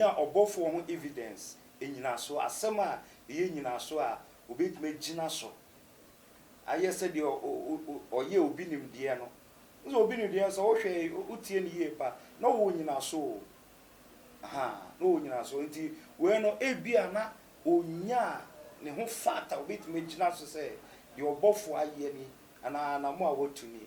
Nya ɔbɔfoɔ ho evidence, nnyinasoɔ, asɛm a ɛyɛ nnyinasoɔ a ɔbɛtumi agyina so ayɛ sɛdeɛ ɔyɛ obi nimdeɛ no. Wohu sɛ obi nimdeɛ no sɛ wohwɛ a, wotie no yie paa, na ɔwɔ nnyinasoɔ o. Ahaa, na ɔwɔ nnyinasoɔ. Nti wei no, ebia na ɔnyaa ne ho fact a ɔbɛtumi agyina so sɛ deɛ ɔbɔfoɔ ayɛ nie, anaa anamo a watu nie.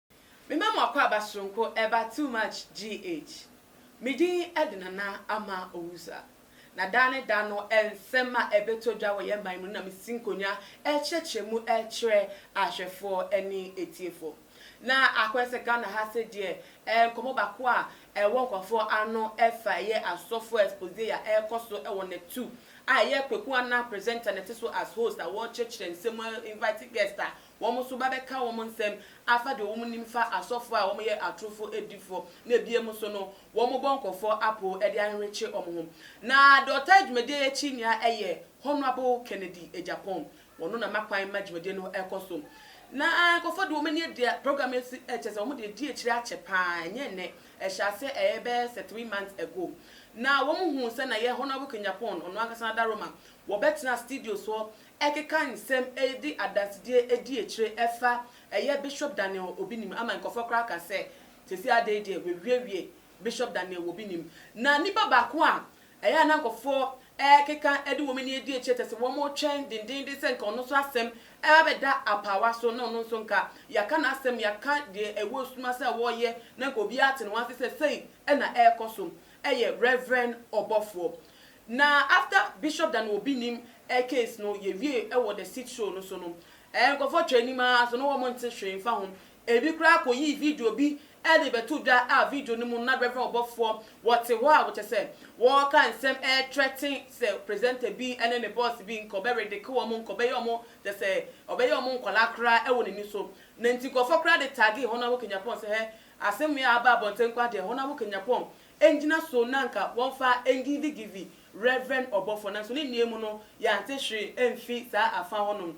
Me mma mo akwaaba soronko ɛba too much GH. Me din ɛde Nana ama Owusa. Na daa ne daa no nsɛm a ɛbɛtɔ dwa wɔ yɛn man mu no na mesi nkonwa ɛrekyerɛkyerɛ mu ɛrekyerɛ ahwɛfoɔ ɛne atiefoɔ. Na akɔyɛ sɛ Ghana ha se deɛ ɛyɛ nkɔmɔ baako a ɛwɔ nkorɔfoɔ ano ɛfa ɛyɛ asɔfoɔ expose a ɛrekɔ so ɛwɔ Natu a ɛyɛ Kweku Anah presenter na ɛte so as host a wɔrekyerɛkyerɛ nsɛm mu invite guest a Wɔn nso bɛbɛka wɔn nsɛm afa deɛ wɔn nim fa asɔfoɔ a wɔyɛ atorofoɔ adifoɔ na ebiem nso no wɔn bɔ nkɔfoɔ apo de ahwehwekye wɔn ho. Na deɛ ɔtaa dwumadie yi akyi nea ɛyɛ Honourable Kennedy Agyapong, wɔno na ma kwan ma dwumadie no ɛkɔ so. Na nkɔfoɔ de wɔn ani adi program yi si kyerɛ sɛ wɔn de adi akyire akyɛ paa ɛnyɛ ɛnɛ, ɛhyɛ aseɛ ɛyɛ bɛyɛ sɛ three months ago. Na wɔn huu sɛ na yɛ Honourable Kenyapong ɔno ankasa n'adaroma wɔbɛtena studios hɔ ɛkeka nsɛm de adansedie di akyire ɛfa ɛyɛ Bishop Daniel Obinim ama nkurɔfoɔ koraa ka sɛ seesei ara dei deɛ wɔawiewie Bishop Daniel Obinim. Na nnipa baako a ɛyɛ a na nkurɔfoɔ ɛkeka de wɔn ani adi akyire kyerɛ sɛ wɔretwɛn dendeenden sɛ nka ɔno nso asɛm ɛba bɛda apaawa so na ɔno nso nka yɛaka n'asɛm yɛaka deɛ ɛwɔ sum ase a ɔreyɛ na nka obiara ate ne ho ase sɛ sei na ɛrekɔ so ɛyɛ Rev. Ɔbɔfoɔ Na after bishop da no obi nim eh case no yɛ wie eh wɔ the seat show no so no eh nkorɔfoɔ twɛ anim aa so na wɔn nte hwee nfa ho ebi koraa kɔ yii video bi eh de bɛto dwa a video no mu no na reverend ɔbɔfoɔ wɔ te hɔ a wɔ kyɛ sɛ wɔɔka nsɛm eh threaten sɛ presenter bi ne ne boss bi nka ɔbɛ redeke wɔn nka ɔbɛyɛ wɔn kyɛ sɛ ɔbɛyɛ wɔn nkwadaa koraa eh wɔ nani so na nti nkorɔfoɔ koraa de tagee hɔn a wɔ kanyapɔn sɛ hɛ asem wei a aba abɔnten koraa deɛ hɔn a wɔ kanyapɔn ngyina so na nka wɔmfa ngivigivi Reverend ɔbɔfoɔ, nanso ne nnuayi mu no yɛante hwee amfi saa afa hɔnom.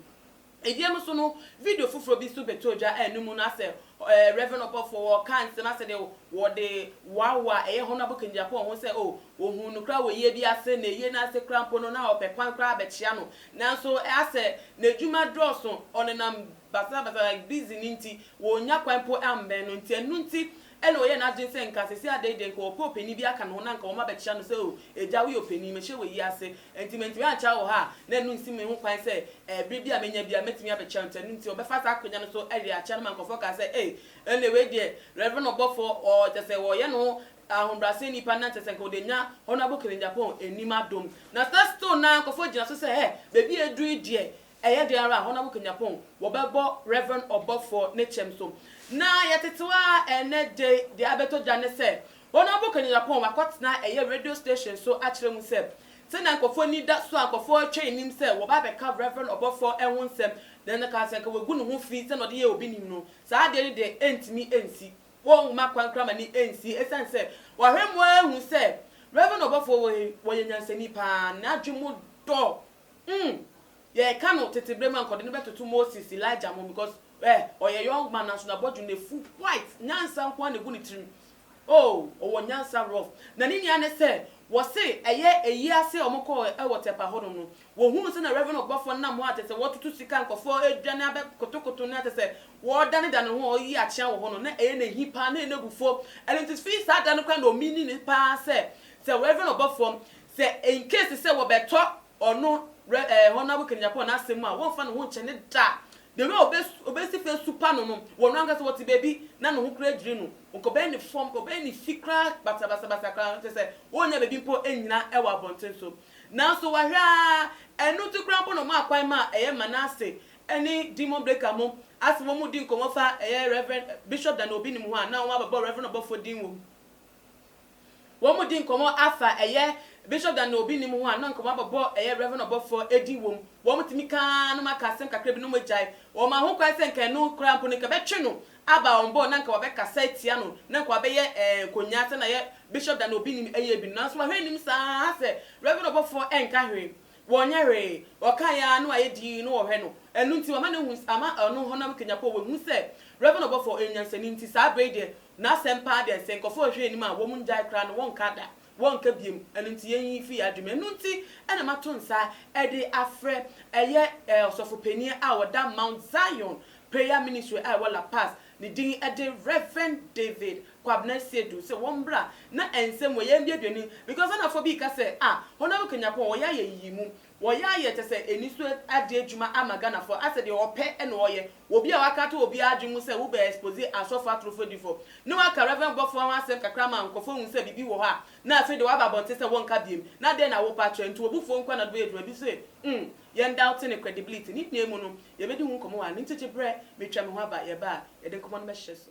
Ebiam nso no, video foforɔ bi nso bɛtɔɔ dwa a ɛno mu no asɛ eh, Reverend ɔbɔfoɔ ɔɔka nsɛm asɛ deɛ wɔde wɔawa a ɛyɛ Honourable Kennedy Apoah ho sɛ oh, wɔhuu no koraa wɔ yie bi ase, na yie no ase koraa mpo no na ɔpɛ kwan koraa abɛkyea no, nanso asɛ n'adwuma dɔɔso, ɔnenam basabasa like busy no nti, wɔnnya kwan mpo ammɛn no, nti ɛno nti Ɛnna ɔyɛɛ n'adwene sɛ nka seesei adɛn deɛ, nka ɔpɛ ɔpanin bi aka ne ho na nka wɔabɛkyea no sɛ, 'O agya, woyɛ ɔpanin, mahyia wɔ ayi ase, enti mantumi ankyea wo wɔ ha a, na ɛno nsi me ho kwan sɛ ɛberɛ bi a mɛnya biara mɛtumi abɛkyea wo, enti ɛno nti ɔbɛfa saa akonnwa no so awie akyea no ma nkurɔfoɔ kaa sɛ, 'Ei, ɛnneɛ wei deɛ, Reverend ɔbɔfoɔ, ɔ, kyerɛ sɛ ɔyɛ ne ho ahobrɛaseni pa, na kyerɛ sɛ nka ɔde anya Honourable Kennedy Aponn anim adom. Na saa stone no ara nkurɔfoɔ gyina so sɛ, 'Hɛ, baabi a aduru yi deɛ, Ɛyɛ dɛn ara a, hɔn a wokenya pon wɔbɛbɔ Rev. Ɔbɔfo ne kyɛm so. Na yɛtsetsew ara ndɛ dze dza abɛtɔ gya nye sɛ, hɔn a wokenya pon wɔakɔtsena ɛyɛ radio station so akyerɛ mu sɛ, sɛnea nkorɔfo enyi da so a nkorɔfo retwɛn enyim sɛ wɔba abɛka Rev. Ɔbɔfo ho nsɛm na nna ka sɛ nka woegu no ho fi sɛnea ɔdze yɛ obi nyim no, saa ade no de enntumi nnsi. Wɔmma kwan koraa ma no ennsi esiane sɛ wɔahwɛ mu ehu sɛ Rev. Ɔbɔfo wɔ he, ɔyɛ nyansani paa, n'adwen mu dɔ Umm yɛka no tete berɛ mu a nka ɔde no bɛtoto Moses, Elijah ho because eh ɔyɛ young man nanso n'abɔdwem no afu white nyansa nko ara na ɛgu ne tirim oh ɔwɔ nyansa rough na ne nua ne sɛ wɔse ɛyɛ ayi ase a wɔkɔɔ wɔ Tɛpa hɔnom no wɔhunu sɛnea Rev ɔbɔfoɔ no nam hɔ a kyerɛ sɛ wɔretoto sika a nkurɔfoɔ redwane abɛ kotokoto no a kyerɛ sɛ wɔredanedane ho a ɔreyi akyea wɔ hɔ no na ɛyɛ no ahi paa na ɛyɛ no abufuo ɛno nti firi saa da no koraa na ɔmeaning no paa sɛ sɛ Rev ɔbɔfoɔ Sɛ in case sɛ wɔbɛtɔ ɔno Re eh, Honourable Ken Agyapong n'asɛm mu a, wɔmfa ne ho nkyɛ ne da. The way obe obesi fa asupa no no, wɔ no ankasa wɔte baabi na ne ho koraa adwiri no, ɔkɔbɛn ne fam, ɔbɛn ne fi koraa basabasabasa koraa, kyerɛ sɛ ɔnnya baabi mpo nnyina wɔ abɔnten so. Nanso wahwɛ ara, ɛno nti koraa mpo na wɔmaa kwan maa ɛyɛ Manasse ne Demon Breaker mo a sɛ wɔredi nkɔmmɔ fa ɛyɛ Rev. Bishop Daniel Obinim ho a na wɔabɛbɔ Rev. Ɔbɔfoɔ din wɔ mu. Wɔredi nkɔmmɔ afa ɛyɛ Bishop Dan na obi nnim ho a na nkɔmmɔ abɔbɔ ɛyɛ Rev ɔbɔfoɔ edin wom. Wɔtumi ka ara na wɔaka asɛm kakra bi na wɔagyae. Wɔmaa ho kwan sɛ nka ɛno koraa mpo no nka ɛbɛtwe no aba wɔn bɔ na nka wɔbɛkasa atia no na nka wɔabɛyɛ nkonyaa sɛnea ɛyɛ Bishop Dan na obi nnim ɛyɛ bi no. Nanso wahwɛ anim saa ara sɛ Rev ɔbɔfoɔ ɛnka hwee. Wɔnyɛ hwee, wɔkae ara na wɔayɛ dinn na wɔhwɛ no. Ɛno nti, wɔama no ahu, ama ɔno honam kanyapɔ a ɔwɔ no hu sɛ Rev. Ɔbɔfo yɛ nyansani nti, saa bere yi deɛ, n'asɛm paa deɛ, sɛ nkurɔfo rehwɛ anim a, wɔngyae koraa no, wɔnka da, wɔnka biom. Ɛno nti, yɛn yi fi yɛn adwenem. Ɛno nti na mato nsa de afrɛ ɛyɛ ɔsɔfo panin a ɔda Mount Zion Prayer Ministry a ɛwɔ La Paz, ne din de Rev. David Kwabena Seidu sɛ wɔn mbra na nsɛm mu yɛn mbiabia ni because Ghanafoɔ bii ka sɛ ah Honourable Kanyapɔn wɔyɛ ayɛ nyiyimu wɔyɛ ayɛ kyɛ sɛ aniso ade adwuma ama Ghanafoɔ asɛ deɛ ɔpɛ na ɔyɛ obi a waka ato obiara adwene mu sɛ wo bɛ expose Asɔfoɔ atorofo adifoɔ ne waka Reverend Bɔfoɔ ho asɛm kakra ma nkorɔfoɔ ahu sɛ biribi wɔ hɔ a na afei deɛ waba abɔnten sɛ wɔnka biem na dɛn na wo pɛ akyerɛ nti obufoɔ nkoa na ɔde bɛyɛ adwuma bi se umm yɛn doubte ne credibility ne nyinaa mu no yɛbɛdi ho nkɔmɔ wɔ ha ne nti gye brɛ metwa me ho aba yɛba a yɛde nkɔmɔ no bɛhyɛ so.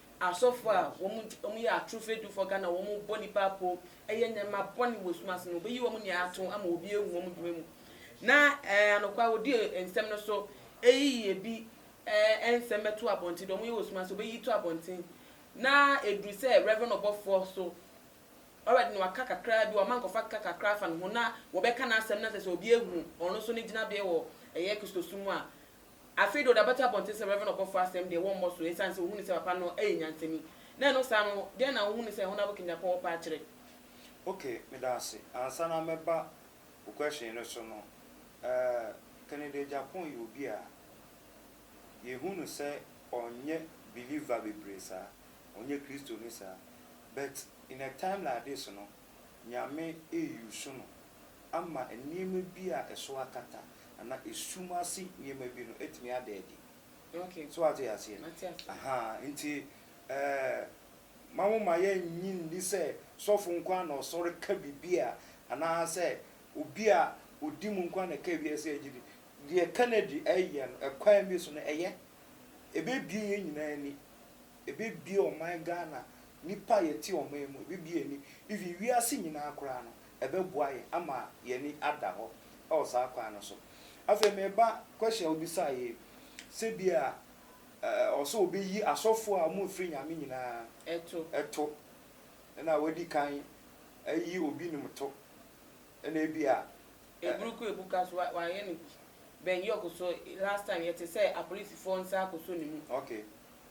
Asɔfo a wɔn nti wɔn yɛ atoro fɛdufɔ Ghana wɔn bɔ nipa apo ɛyɛ nneɛma bɔne wɔ sum ase no wɔbɛyi wɔn nyinaa ato ama obi ahu wɔn dwuma mu na ɛɛ anokwa wɔdi nsɛm no so ɛyi ebi ɛɛ ɛnsɛm bɛto abɔnten deɛ wɔn yɛ wɔ sum ase wɔbɛyi to abɔnten na ɛduru sɛ Rev ɔbɔfoɔ so already no waka kakra bi wɔama nkɔfa ka kakra afa ne ho na wɔbɛka n'asɛm na sɛ sɛ obi ahu ɔno so ne gyinabeɛ wɔ ɛyɛ Kristosom mu a Afei deɛ ɔde abɛto abɔnten sɛ Rev. Ɔbɔfoɔ asɛm deɛ wɔmmɔ so ɛsiane sɛ wɔhunu sɛ papa no yɛ nyansani. Na ɛno saa no, deɛn na wohunu sɛ Honourable Kanyapɔ wɔ pɛ akyerɛ? Ok, meda ase. Ansa na mɛba wo question no so no, eh, Kennedy Agyapong yɛ obi a yɛhu no sɛ ɔnyɛ believer bebree saa, ɔnyɛ Kristoni saa, but in a time like this no, Nyame re use no ama nneɛma bi a ɛso akata anaa esum ase nneɛma bi no atumi ada adi. So woate aseɛ? Ahaa, nti mma wo mma yɛnnye nni sɛ sɔfo nko ara na ɔsɔre ka biribi a anaasɛ obi a ɔdi mu nko ara na ɛka biribi a ɛsɛ sɛ yɛgye di. Deɛ ɛka no adi yɛ no, ɛkwan bi so no, ɛyɛ. Ɛbɛbue yɛn nyinaa ani. Ɛbɛbue ɔman Ghana, nnipa a yɛte ɔman mu, ɛbɛbue yɛn ani. Even wiase nyinaa koraa no, ɛbɛboa yɛn ama yɛn ani ada hɔ wɔ saa kwan no so. Afei mereba question a wobisae yi, sɛ bi a ɛwɔ sɛ wɔbɛyi asɔfoɔ a wɔmfiri Nyame nyinaa to, ɛna wɔadi kan ayi obi nom to, ɛna ebi a. Eburu kɔ ebu ka so, wɔayɛ no bi. Ben York nso, last time yɛte sɛ apolisifoɔ nsa akɔsɔ ne mu. Okay.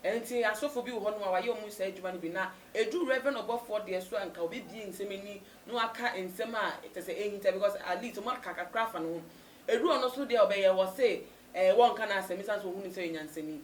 Enti asɔfo bi wɔ hɔnom a wɔayɛ wɔn saa adwuma no bi, na edu Rev. Ɔbɔfoɔ deɛ so a nka ɔbɛbie nsɛm ani na waka nsɛm a kyerɛ sɛ ɛnhinta because at least wɔaka kakra afa ne ho. Edu ɔno so deɛ a ɔbɛyɛ, wɔse ɛɛ wɔnka n'asɛm esiane sɛ wɔhu no sɛ ɔyɛ nyansani.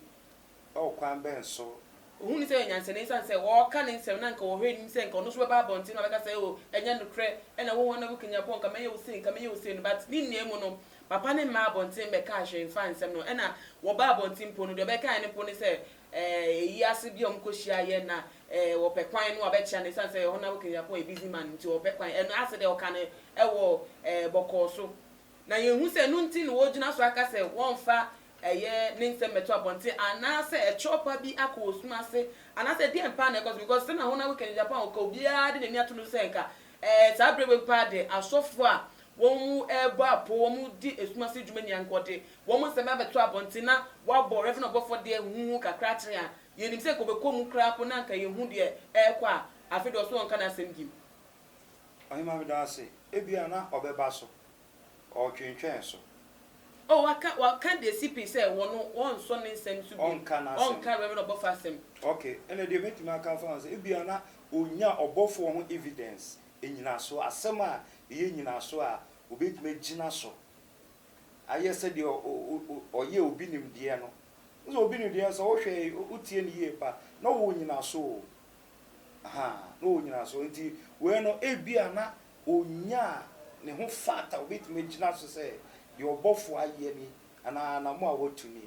Wɔ kwan bɛn so? Wɔhu no sɛ ɔyɛ nyansani esiane sɛ ɔka ne nsɛm na nka wɔhwɛ anim sɛ nka ɔno nso bɛba abɔnten na wabɛka sɛ oh ɛnyɛ nokorɛ, ɛna wo hɔ na wokanyan pɔ nka mɛyɛ wo sei, nka mɛyɛ wo sei no but ne nyinaa mu no, Papa no mmaa abɔnten mmɛkaa hwee mfaa nsɛm no ho. Ɛna wɔbaa abɔnten mpo no, deɛ ɔbɛkaeɛ no mpo ne sɛ, eh, eyi ase bi a wɔkɔhyiaa yɛ na, eh, wɔpɛ kwan no a wɔbɛkyea no esiane sɛ ɛhɔ no na Wilkins Apo yɛ busy man nti wɔpɛ kwan. Ɛno ase deɛ ɔka no ɛwɔ, eh, bɔkɔɔ so. Na yɛhu sɛ ɛno nti na wɔgyina so aka sɛ wɔmfa, ɛyɛ, ne nsɛm mmɛto abɔnten anaasɛ ɛkyerɛw pa bi akɔ wɔ sum ase anaasɛ ɛdeɛn paa na ɛkɔ so because sɛnea ɛhɔ no na Wilkins Apo a ɔka obiara de n'ani ato no so sɛ nka, eh, saa berɛ wei paa deɛ asɔfoɔ a Wɔrebɔ apoo, wɔredi esum ase dwuma nyinaa, nka wɔde wɔn nsɛm abɛto abɔnten na wɔabɔ Rev. Ɔbɔfoɔ deɛ huhuhu kakra akyene a, yɛnim sɛ nka wɔbɛkɔ mu koraa mpo na nka yɛhu deɛ ɛrekɔ a, afei deɛ ɔse wɔnka n'asɛm bio. Ɔhemmaa meda wo ase. Ebia na ɔbɛba so. Ɔretwentwɛn so. Oh, waka, waka deɛ CP sɛ wɔno, wɔnsɔ ne nsɛm so bio. Ɔnka n'asɛm. Ɔnka Rev. Ɔbɔfoɔ asɛm. Okay, ɛna deɛ mɛtumi aka afa ho sɛ ebia na ɔnnya Ɔbɔfoɔ ho evidence Nnyinaso, Asɛm a ɛyɛ nnyinaso a wobɛtumi agyina so ayɛ sɛ deɛ ɔyɛ obi nimdeɛ no. Wohu sɛ obi nimdeɛ no, sɛ wohwɛ, wotie no yie pa, na ɔwɔ nnyinaso o. Ahaa, na ɔwɔ nnyinaso. Nti wei no, ebia na ɔnyaa ne ho fact a ɔbɛtumi agyina so sɛ deɛ ɔbɔfoɔ ayɛ ni anaa n'amoa a watu ni.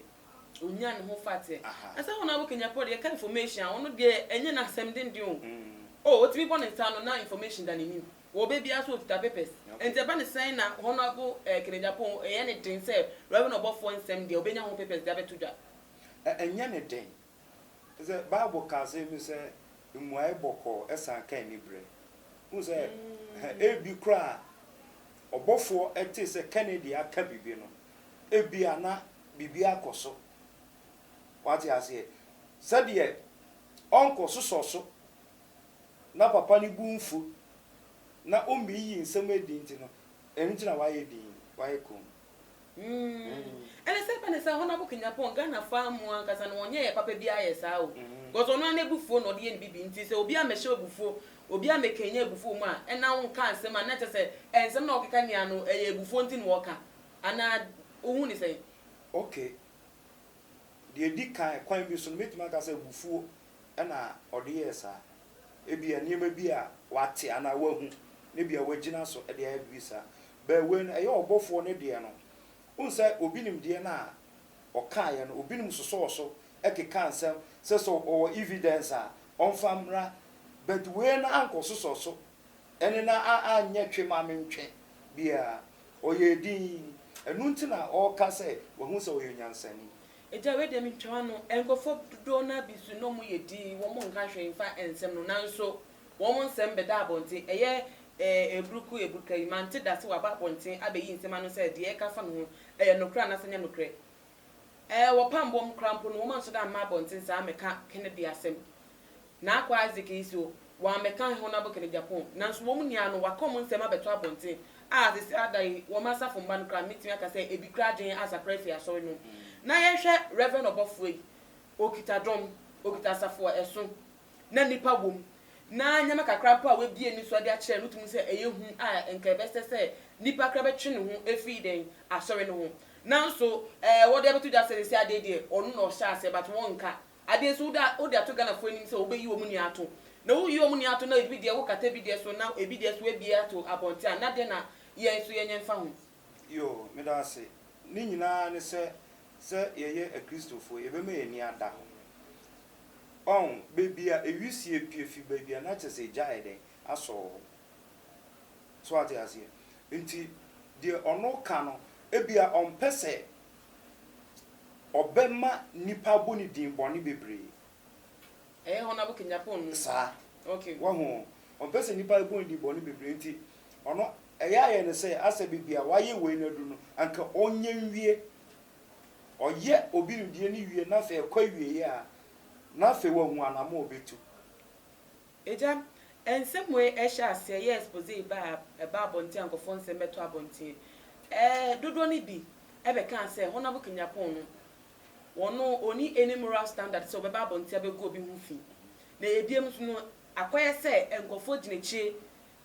Onya ne ho fate. Ɛsɛ hɔn a wokenya Paul yɛka information a, ɔno deɛ ɛnyɛ no asɛm denden o. Oh, otumi bɔ ne nsa ano na information da n'enyim. Wɔ ɔbɛ biara so okitsa papers. Ntsi ɛba no sɛn na Honourable eh, Kennedy Apoho ɔyɛ ne den sɛ Rev. Ɔbɔfoɔ nsɛm deɛ obenya ho papers de abɛto dwa? Ɛnyɛ ne den. Sɛ Bible ka asɛm bi sɛ mmuae bɔkɔɔ san ka aniberɛ. Wohu sɛ, ebi koraa a ɔbɔfoɔ tee sɛ Kennedy aka biribi no, ebia na biribi akɔ so. Wate aseɛ? Sɛdeɛ ɔnkɔsosɔ so na papa no bo mfu na ɔmmeyiyi nsɛm adi nti no, ɛno nti na wayɛ dinn, wayɛ komm. Mm. Ɛne sɛ ɛba ne saa Honourable Kenyapong, Ghana faa mu ankasa no ɔnyɛ yɛ papa biara yɛ saa o. Mm. Because ɔno ara n'abufuo na ɔde yɛ ne bibi nti sɛ obi amɛhyɛ abufuo, obi amɛkɛnya abufuo mu a ɛna wo nka nsɛm a na kyɛ sɛ ɛnsɛm na ɔkeka nyinaa no ɛyɛ abufuo nti na wɔka. Anaa wo hu ne sɛn? Okay. Deɛ ɛdi kan kwan bi so no mɛtumi aka sɛ abufuo na ɔde yɛɛ saa. Ebia nneɛma bi a wate anaa wahu na ebia wagyina so de ayɛ biribi saa. But wei no, ɛyɛ ɔbɔfoɔ no deɛ no. Wohu sɛ obi nim deɛ no a ɔkaeɛ no, obinom sosɔɔ so kekaa nsɛm sɛ sɛ ɔwɔ evidence a ɔmfa mmra. But wei no ankɔsosɔ so ne no anyɛ twe ma mentwe biara. Ɔyɛɛ dinn. Ɛno nti na ɔreka sɛ wahu sɛ ɔyɛ onyansani. Agya wei deɛ me ntwa w'ano. Nkorɔfoɔ dodoɔ no ara bi nso na ɔmo yɛ dinn, wɔn nka hwee nfa nsɛm no nanso wɔn nsɛm bɛda abɔnten, ɛyɛ eh eburuku eburuka yi mante da se waba abɔnten abɛyi nsɛm ano sɛ deɛ yɛka afa ne ho ɛyɛ nokorɛ anaasɛ ɛnyɛ nokorɛ. Eh wɔ pamboɔ mu koraa mpo no wɔn ansɔre amma abɔnten saa ammɛka Kennedy asɛm. N'akoa Isaac yi so, wɔammɛka hɛn honam kɛn Japan, naaso wɔ mu nyina no, wɔakã hɔn nsɛm abɛto abɔntsen a adze sesã da yi, wɔ m'asafo mba no koraa, mibtumi aka sɛ bi koraa dwen asakra efi asɔr no mu. Na yɛhwɛ Rev. Ɔbɔfowa yi, okitsa dɔm, okitsa asafo a ɛsõ, na nyimpa wɔ mu, na ndzɛmba kakra mpo a oebue no so dze akyerɛ no, mutum sɛ ɛyɛ hu a nka ɛbɛsɛ sɛ nyimpa koraa bɛtwe no ho efi dɛn, asɔr no ho. Naaso, wɔdze abɛto dwa sɛ sesã da yi deɛ, ɔno na ɔhyɛɛ ase, but wɔnnka Adeɛ nso wode wode ato Ghana foɔ anim sɛ wobɛyi wɔn nua ato na woyi wɔn nua ato na ebi deɛ wo kata ebi deɛ so na ebi deɛ so abie ato abɔnten a na deɛ na yɛn nso yɛnyɛ mfa ho. Yoo, meda ase. Ne nyinaa ne sɛ, sɛ yɛyɛ Akristofoɔ yɛbɛma yɛn ani ada hɔ. Ɔho, baabi a ewisie pue fi baabi a na kyerɛ sɛ egya ayɛ dɛn? Asɔ wɔ hɔ. So wate aseɛ? Nti deɛ ɔno ka no, ebia ɔmpɛ sɛ Ɔbɛma nnipa abɔ ne din bɔne bebree. Ɛyɛ hɔ na bokɛ Japan no. Saa. Okay. Wahu? Ɔmpɛ sɛ nnipa bɔ ne din bɔne bebree nti ɔno ɛyɛ ayɛ no sɛ asɛ baabi a wayɛ wei no adu no anka ɔnyɛ nwie. Ɔyɛ obi no deɛ no wie na afei ɛkɔ awieɛ a na afei wahu anamɔ a ɔbɛtu. Agya, nsɛm wei ɛhyɛ aseɛ yɛ expose ba a ɛba abɔnten a nkorɔfoɔ nsɛm bɛtɔ abɔnten. Ɛɛ dodoɔ no bi ɛbɛkaa sɛ Honable Kanyapong no ɔno ɔnni any moral standard sɛ ɔbɛba abɔnten abɛgu obi ho fi. Na ɛyɛ biem nso no akɔyɛ sɛ nkorɔfoɔ gyina akyire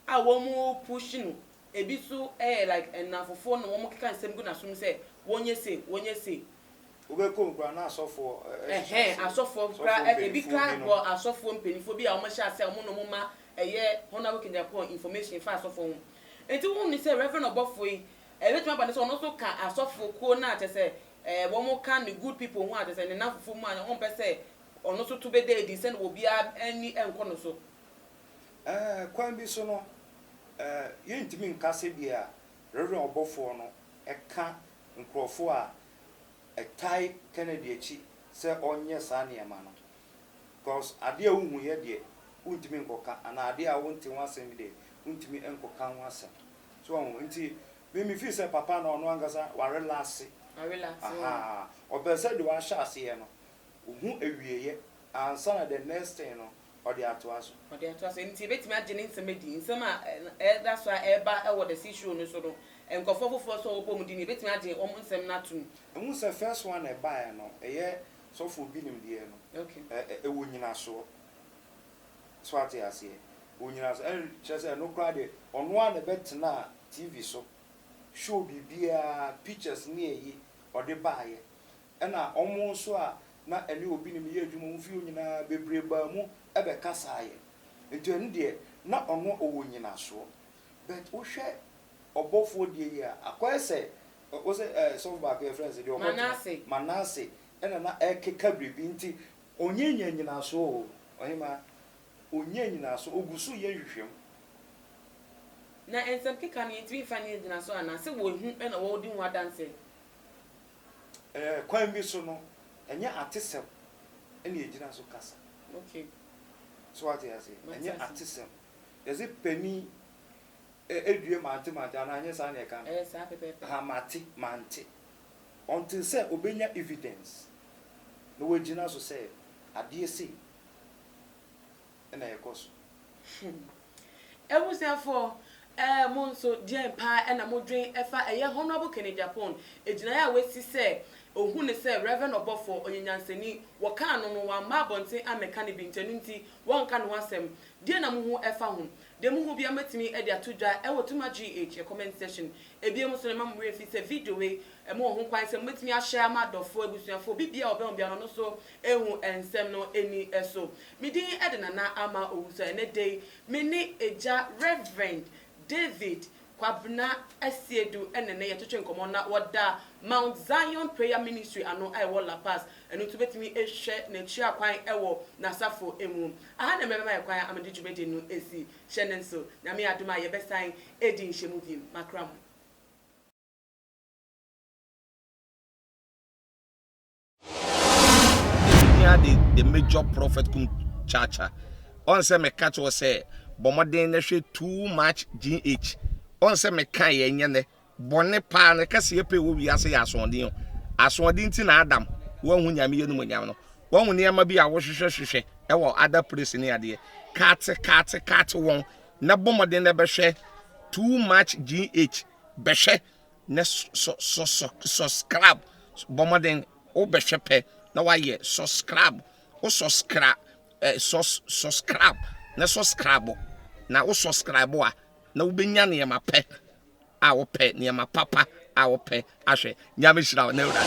a wɔn push no ebi so ɛyɛ like ɛnamfofoɔ na wɔn keka nsɛm gu nasom sɛ wɔnyɛ sei wɔnyɛ sei. Wobɛ kɔ mu koraa na asɔfoɔ ɛhyehyɛ aseɛ. Ɛhɛn asɔfoɔ koraa ɛ ebi koraa bɔ asɔfoɔ mpaninfoɔ bi a wɔn hyɛ aseɛ a wɔn na wɔn ma ɛyɛ Honarable Kennedy-Akorɔn information fa asɔfoɔ ho nti wohu no sɛ Reverend ɔbɔfoɔ yi ɛbɛtumi aba no sɛ ɔno nso ka asɔfoɔ kuo no a kyerɛ sɛ ɛɛ wɔn ka ne good people ho a kyerɛ sɛ ne namfofoɔ mu a wɔn mpɛ sɛ ɔno nso to bɛda adi sɛdeɛ obiara ani nkɔ no so. Ɛɛ, kwan bi so no, ɛɛ, yɛrentumi nka sɛdeɛ Rev. Ɔbɔfoɔ no ka nkorɔfoɔ a ɛtae Kennedy akyi sɛ ɔnyɛ saa nneɛma no, because adeɛ a wohuiɛ deɛ, wontumi nkɔka, anaa adeɛ a wonte ho asɛm bi deɛ, wontumi nkɔka ho asɛm. So wahu? Nti, me, me feel sɛ papa no, ɔno ankasa, warelaase. Warelaase, oo. Ahaa, ɔpɛ sɛ deɛ wahyɛ aseɛ no, ɔhu awieɛ, ansa na the next thing no, ɔde atoa so. Ɔde atoa so. Ɛno nti, yɛbɛtumi agye ne nsɛm adi. Nsɛm a ɛda so a ɛreba wɔ The Sea Show no so no, nkurɔfoɔ foforɔ nso a wɔbom din no, yɛbɛtumi agye wɔn nsɛm no atom. Mehu sɛ first one a ɛbaeɛ no, ɛyɛ sɔfoɔ binom deɛ no, ɛwɔ nnyinasoɔ. So woate aseɛ? Ɛwɔ nnyinasoɔ. Ɛnna kyerɛ sɛ, ɛno koraa deɛ, ɔno ara na ɛbɛtenaa TV so, show biribiara, pictures ne ayi, ɔde baeɛ. Ɛnna wɔn nso a na ɛne obi ne me yɛ adwuma wɔn fie hɔ nyinaa bebree baa mu bɛkasaa yɛn. Enti ɛno deɛ, na ɔno ɔwɔ nnyinasoɔ. But wohwɛ ɔbɔfoɔ deɛ yi a, akɔyɛ sɛ wo sɛ ɛɛ sɔfo baako yɛfrɛ no sɛ deɛ ɔkɔtena Manase ɛnna na ɛrekeka biribi nti. Ɔnnya nyaa nnyinasoɔ o, ɔhemaa. Ɔnnya nnyinasoɔ, ɔgu so reyɛ nhwehwɛmu. Na nsɛm keka no yɛntumi mfa nyɛ nnyinasoɔ anaa? Sɛ wɔahu na wɔredi ho adanseɛ. Kwan bi so no, ɛnyɛ atesɛm na yɛgyina so kasa. So woate aseɛ? Ɛnyɛ atesɛm. Yɛse panin due mante mante anaa ɛnyɛ saa na yɛka no? Ɛyɛ saa pɛpɛɛpɛ. Ha mate mante. Until sɛ ɔbɛnya evidence na wagyina so sɛ adeɛ sei. na ɛkɔ so. Hmm. Abusuafoɔ, eh, mo nso, deɛn paa na modwen fa ɛyɛ Honourable Kenny Agyapong gyinaeɛ a wasi sɛ ɔhu no sɛ Rev. Ɔbɔfoɔ, ɔyɛ nyansani, wɔkaa no no, wamma abɔnten ammɛka ne bi nti ɛno nti wɔnka ne ho asɛm. Deɛn na mohu fa ho? Deɛ mohu biara mobɛtumi de ato dwa wɔ Tuma GH yɛ comment section. Ebiem nso no mma mo werɛ mfi sɛ video wei mowɔ ho kwan sɛ mobɛtumi a-share ama adɔfoɔ, abusuafoɔ, obi biara a ɔbɛn wo biara no ɔno nso Ehu nsɛm no ani so. Me din de Nana Ama Owusu. Ɛnɛ da yi, me ne Agya Rev. David Kwabena Asiedu na ɛnnɛ yɛtwetwe nkɔmmɔ na wɔda Mount Zion Prayer Ministry ano a ɛwɔ La Paz. Ɛno nti wobɛtumi ahwɛ n'akyira kwan wɔ n'asafo mu. Aha na mɛbɛma yɛn kwan ama mede dwumadi no asi. Hyɛ no nso. Nyame adom a yɛbɛsan adi nhyiamu bi. Makra mo. Here the, the major prophet kum chacha. On say me catch or say bomodin na hwe too much GH. On say me kan ye nye ne bone pa ne kase ye pe wo wiase ya asondin. Asondin ti na Adam wo hu nyame ye no nyame no. Wo hu ne ma bi a wo hwehwe hwehwe e wo ada place ne ade. Kat kat kat won na bomodin na be hwe too much GH. Be hwe Nnɛ sɔ sɔ sɔ sɔskrab bɔ mmɔden wo bɛhwɛ pɛ na wayɛ sɔskrab wo sɔskra ɛ sɔ sɔskrab na sɔskrabo na wo sɔskrabo a na wobɛnya nneɛma pɛ a wopɛ nneɛma papa a wopɛ ahwɛ nyame hyira wo na awurade.